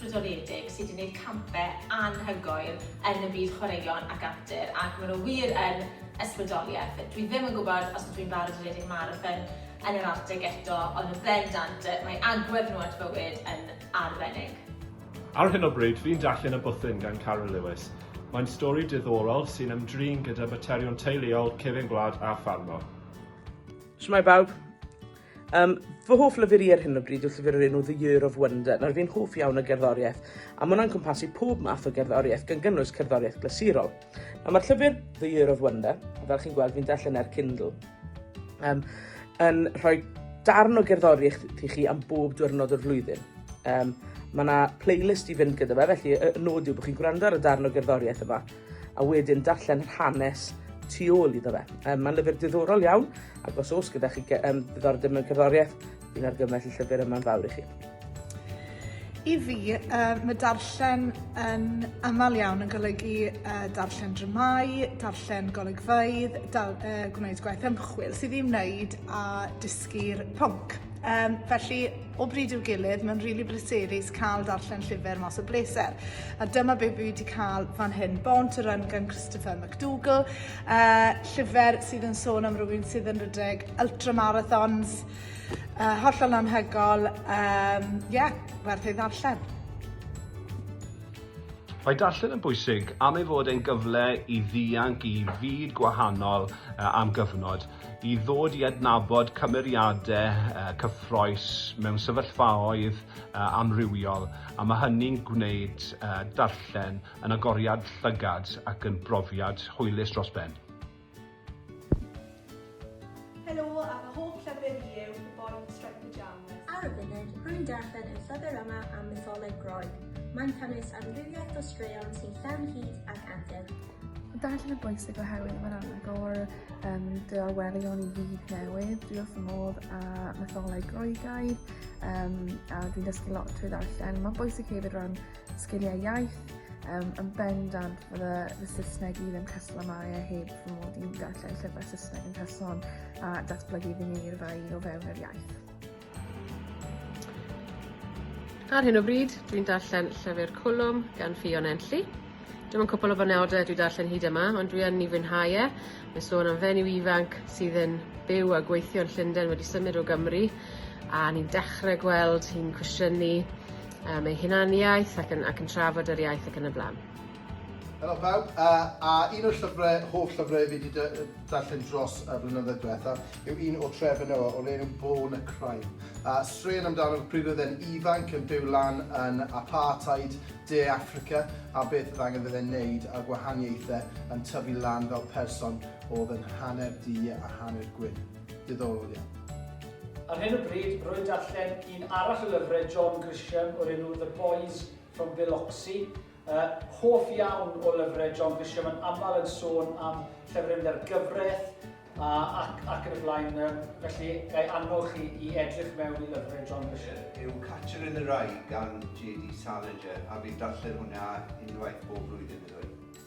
brydoledig sydd 'di neud campe anhygoel yn y byd chwaraeon ac antur ac ma' nhw wir yn ysbrydolieth. Dwi ddim yn gwybod os ydw i'n barod i redeg marathon yn yr Arctic eto ond yn bendant yy mae agwedd nhw at fywyd yn arbennig. Ar hyn o bryd fi'n darllen Y Bwthyn gan Carwyn Lewis. Mae'n stori diddorol sy'n ymdrin gyda materion teuluol, cefyn gwlad a ffarmo. Shwmae bawb. Um, fy hoff lyfr i ar hyn o bryd yw llyfr o'r enw The Year of Wonder. Nawr fi'n hoff iawn o gerddoriaeth, a mae hwnna'n cwmpasu pob math o gerddoriaeth, gan gynnwys cerddoriaeth glasurol. Nawr mae'r llyfr The Year of Wonder, a fel chi'n gweld fi'n darllen ar Kindle, um, yn rhoi darn o gerddoriaeth i chi am bob diwrnod o'r flwyddyn. Um, mae yna playlist i fynd gyda fe, felly y nod yw bod chi'n gwrando ar y darn o gerddoriaeth yma, a wedyn darllen yr hanes tu ôl iddo fe. Um, Mae'n lyfr diddorol iawn, ac os oes gyda chi um, diddordeb mewn cerddoriaeth, fi'n argymell y llyfr yma'n fawr i chi. I fi, uh, mae darllen yn aml iawn yn golygu uh, darllen dramau, darllen golygfeydd, dal, uh, gwneud gwaith ymchwil sydd ddim wneud a dysgu'r pwnc. Yym, felly, o bryd i'w gilydd, mae'n rili bryserus cael darllen llyfr mas o bleser. A dyma be fi wedi cael fan hyn, Born to Run gan Christopher McDougall, uh, llyfr sydd yn sôn am rywun sydd yn rhedeg ultramarathons, uh, hollol anhygol, um, yeah, werth ei ddarllen. Mae darllen yn bwysig am ei fod e'n gyfle i ddianc i fyd gwahanol am gyfnod. i ddod i adnabod cymeriadau cyffrous mewn sefyllfaoedd amrywiol, a mae hynny'n gwneud darllen yn agoriad llygad ac yn brofiad hwylus dros ben. Helo, a fy hoff llyfr i yw The Boy Who Striped the Jam. Ar y funud, rwy'n darllen y llyfr yma am mytholeg Groeg. Mae'n cynnwys amrywiaeth o straeon sy'n llawn hud ac antur. Darllen yn bwysig oherwydd mae'n anagor um, dy arwelion i fyd newydd. Dwi wrth fy modd a metholau Groegaidd um, a dwi'n dysgu lot trwy ddarllen. Mae'n bwysig hefyd rhan sgiliau iaith, um, yn bendant fydde fy Saesneg i ddim casgla mai a heb fy mod i'n darllen llyfrau Saesneg yn person a datblygu fy ngeirfa i o fewn yr iaith. Ar hyn o bryd, dwi'n darllen llyfr Cwlwm gan Ffion Enlli. Dim ond cwpl o fanewdau dwi darllen hyd yma, ond dwi yn ei fwynhau e. Mae'n sôn am fenyw ifanc sydd yn byw a gweithio yn Llundain wedi symud o Gymru a ni'n dechrau gweld hi'n cwestiynu um, ei hunaniaeth ac yn, ac yn trafod yr iaith ac yn y blaen. Helo pawb, a, a un o'r llyfrau, hoff llyfrau fi wedi darllen dros y blynyddoedd diwethaf yw un o Trevor Noah o'r enw Born a Crime. A straen amdano pryd oedd e'n ifanc yn byw lan yn apartheid De Africa a beth oedd angen fydde'n neud a gwahaniaethau yn tyfu lan fel person oedd yn hanner du a hanner gwyn. Diddorol iawn. Ar hyn o bryd, rwy'n darllen un arall o lyfrau John Grisham o'r enw The Boys from Biloxi. Uh, hoff iawn o lyfrau John Grisham yn aml yn sôn am llefrifnau'r gyfraith a, ac, ac yn y blaen. Um, felly, gai annog chi i edrych mewn i lyfrau John Grisham. Yw Catcher in the Rye gan J.D. Salinger a fi'n darllen hwnna unwaith bob blwyddyn iddo.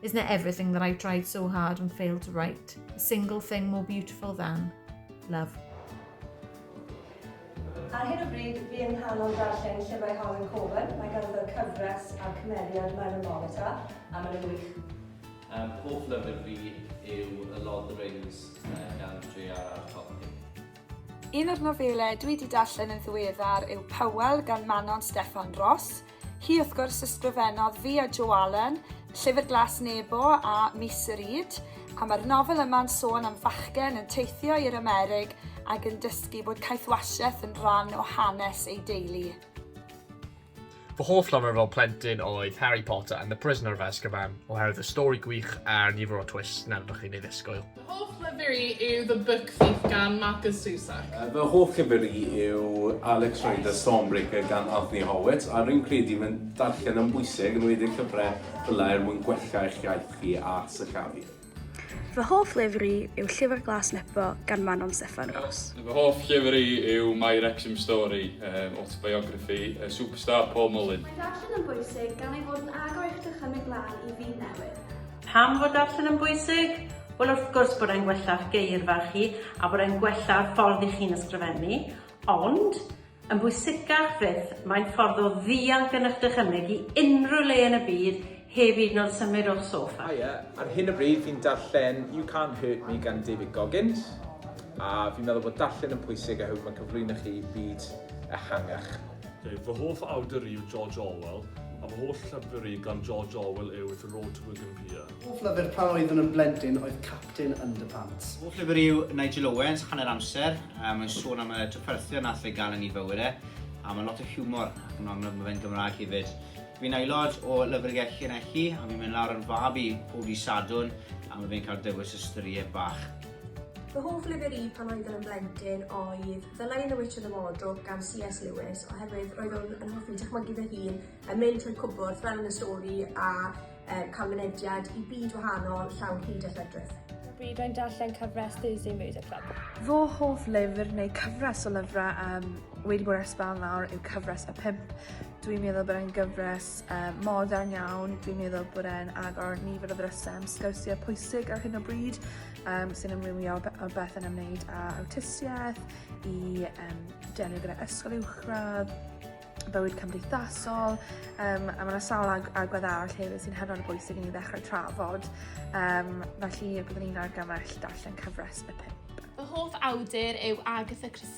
Isn't it everything that I've tried so hard and failed to write? A single thing more beautiful than love. Ar hyn o bryd, fi yn nghanol darllen llyfrau Harlan Coben. Mae ganddo cyfres a'r cymeriad Myra Morita, a mae'n wych. Um, hoff lyfr fi yw A Lord of the Rings uh, gan J.R.R. Tolkien. Un o'r nofelau dwi wedi darllen yn ddiweddar yw Powell gan Manon Steffan Ross. Hi, wrth gwrs, ysgrifennodd fi a Jo Allen Llyfr Glas Nebo a Mis y Rhyd, a mae'r nofel yma'n sôn am fachgen yn teithio i'r Amerig ac yn dysgu bod caethwasiaeth yn rhan o hanes ei deulu. Fy hoff lyfr fel plentyn oedd Harry Potter and the Prisoner of Azkaban oherwydd y stori gwych a'r nifer o twists nad ydych chi'n ei ddisgwyl. Hoff lyfr i yw The Book Thief gan Markus Zusak. Fy hoff lyfr i yw Alex Rider Stormbreaker gan Anthony Horwitz a rwy'n credu mae darllen yn bwysig, yn enwedig llyfrau fel er mwyn gwella eich iaith chi a sillafu. Fy hoff lyfr i yw Llyfr Glas Nebo gan Manon Steffan Ros. Fy hoff llyfr i yw My Wrexham Story, autobiography y superstar Paul Mullin. Mae darllen yn bwysig gan ei fod yn agor eich dychymyg lan i fyd newydd. Pam fod darllen yn bwysig? Wel wrth gwrs bod e'n gwella'ch geirfa chi a bod e'n gwella'ch ffordd i chi'n ysgrifennu, ond yn bwysicach fyth, mae'n ffordd o ddianc yn eich dychymyg i unrhyw le yn y byd heb hyd yn oed symud o'ch soffa. Haia, ar hyn o bryd fi'n darllen You Can't Hurt Me gan David Goggins a fi'n meddwl bod darllen yn pwysig oherwydd mae'n cyflwyno chi i byd ehangach. Dave, Fy hoff awdur i yw George Orwell, a fy holl llyfr i gan George Orwell yw The Road to Wigan Pier. Fy hoff lyfr pan oeddwn yn blentyn oedd Captain Underpants. Fy hoff lyfr i yw Nigel Owens, Hanner Amser, mae'n sôn am y trafferthion wnaeth fe gael yn ei fywyd e, a mae lot o hiwmor ac yn amlwg mae fe'n Gymraeg hefyd. Fi'n aelod o Lyfrgell Llanelli a fi'n mynd lawr yn fab i pob dydd Sadwrn a mae fe'n cael dewis ystyried bach. Fy hoff lyfr i pan oeddwn yn blentyn oedd Ddylai The Witch of the Wardrobe gan C.S Lewis oherwydd roeddwn yn hoffi dychmygu fy hun yn mynd trwy cwbwrdd fel yn y stori a uh, cael mynediad i byd wahanol llawn hyd a lledrith. Bryd rwy'n darllen cyfres Thursday Murder Club. Fy hoff lyfr neu cyfres o lyfrau um, wedi bod ar sbel nawr yw cyfres y pimp. Dwi'n meddwl bod e'n gyfres uh, modern iawn, dwi'n meddwl bod e'n agor nifer o ddrysau am sgyrsiau pwysig ar hyn o bryd, um, sy'n ymwylio o beth yn ymwneud â awtistiaeth, i um, delio gyda ysgol uwchradd, bywyd cymdeithasol, um, a mae yna sawl ag agwedd arall hefyd sy'n hynod o bwysig i ni ddechrau trafod, um, felly byddwn ni'n argymell darllen cyfres y pump. Fy hoff awdur yw Agatha Christie.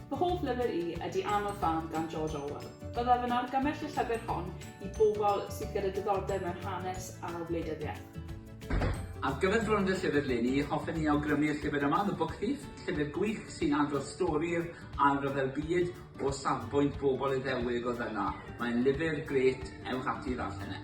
Fy hoff lyfr i ydy Anodd Fam gan George Orwell. Byddaf yn argymell y llyfr hon i bobl sydd gyda diddordeb mewn hanes a wleidyddiaeth. Ar gyfer Bron Dy Llyfr Leni, hoffen ni awgrymu'r llyfr yma, The Book Thief, llyfr gwych sy'n adrodd stori'r Ail Ryfel Byd o safbwynt bobl Iddewig oedd yna. Mae'n lyfr grêt, ewch ati i ddarllen e.